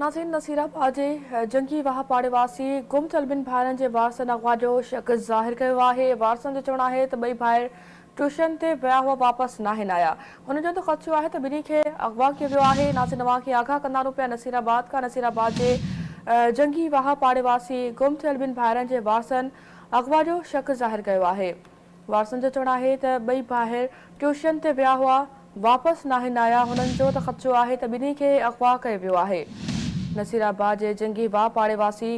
ناظرين نصير آباد جي جنگي واهه پاڙي واسين گم ٿيل ٻن ڀائرن جي وارثن اغوا جو شڪ ظاهر ڪيو آهي وارثن جو چوڻ آهي ته ٻئي ڀائر ٽيوشن تي ويا هئا واپس ناهن آيا هنن جو ته خدشو آهي ته ٻنهي کي اغوا ڪيو ويو آهي ناظرين اوهان کي آگاهه ڪندارون پيا نصير آباد کان نصير آباد جي جنگي واهه پاڙي واسين گم ٿيل ٻن ڀائرن جي وارثن اغوا جو شڪ ظاهر ڪيو آهي وارثن جو چوڻ آهي ته ٻئي ڀائر ٽيوشن تي ويا هئا، واپس ناهن آيا، هنن چيو ته خدشو آهي ته ٻنهي کي اغوا ڪيو ويو آهي. نصير آباد جي جنگي واهه پاڙي واسي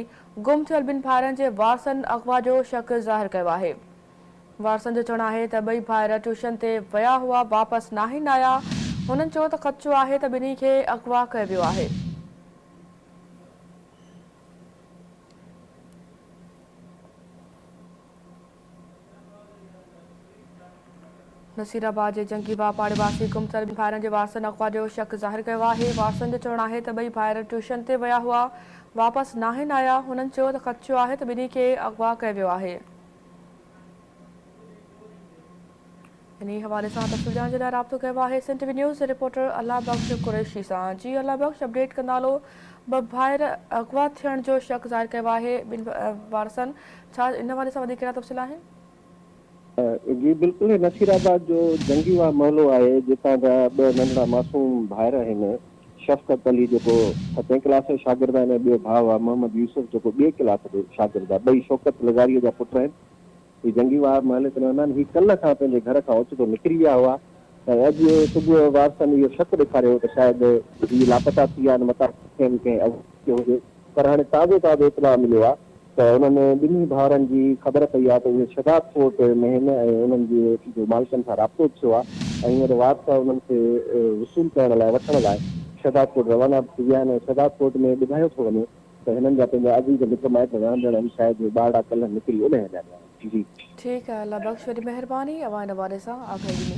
گم ٿيل ٻن ڀائرن جي وارثن اغوا جو شڪ ظاهر ڪيو آهي. وارثن جو چوڻ آهي ته ٻئي ڀائر ٽيوشن تي ويا هئا، واپس ناهن آيا، هنن چيو ته خدشو آهي ته ٻنهي کي اغوا ڪيو ويو آهي. نصيرآباد جي جنگي واپاري واسي گمسر ٻن ڀائرن جي وارثن اغوا جو شڪ ظاهر ڪيو آهي، وارثن جو چوڻ آهي ته ٻئي ڀائر ٽيوشن تي ويا هئا، واپس ناهن آيا، هنن چيو ته خدشو آهي ته ٻنهي کي اغوا ڪيو ويو آهي. انهيء حوالي سان تفصيل ڄاڻڻ جي لاء رابطو ڪيو آهي سنڌ وي نيوز جي رپورٽر الله بخش قريشي سان جي الله بخش اپڊيٽ ڪندا هلو ٻه ڀائر اغوا ٿيڻ جو شڪ ظاهر ڪيو آهي ٻن وارثن ڇا ان حوالي سان وڌيڪ ڪهڙا تفصيل آهن. جي بلڪل هي نصير آباد جو جنگي واهه محلو آهي جتان جا ٻه ننڍڙا معصوم ڀائر آهن شفقت علي جيڪو ستين ڪلاس جو شاگرد آهن ۽ ٻيو ڀاء آهي محمد يوسف جيڪو ٻئي ڪلاس جو شاگرد آهي ٻئي شوڪت لغاري جا پٽ آهن هي جنگي وار مهل ڪنهن هندا آهن. هي ڪلهه کان پنهنجي گهر کان اوچتو نڪري ويا هئا ۽ اڄ صبح وارثن اهو شڪ ڏيکاريو هو ته شايد هي لاپتا ٿي ويا آهن متان کين ڪنهن عذاب ٿيو هجي پر هاڻي تازو تازو اطلاع مليو آهي ته انهن ٻنهي ڀائرن جي خبر پئي آهي ته اهي شداد ڦوٽ مهين ۽ انهن جي جو مالڪن سان رابطو به ٿيو آهي ۽ هينئر وارث انهن کي وصول ڪرڻ لاء وٺڻ لاء شداد ڦوٽ روانا به ٿي ويا آهن ۽ شداد ڦوٽ ۾ ٻڌايو ٿو وڃي ته هنن جا پنهنجا عزيز مٽ مائٽ رهندڙ همسايه جي ٻارڙا ڪلهه نڪري اڏهه هليا ويا آهن. جي جي. ٺيڪ آهي الله بخش وڏي مهرباني اوهان ان حوالي سان آگاهي ڏني.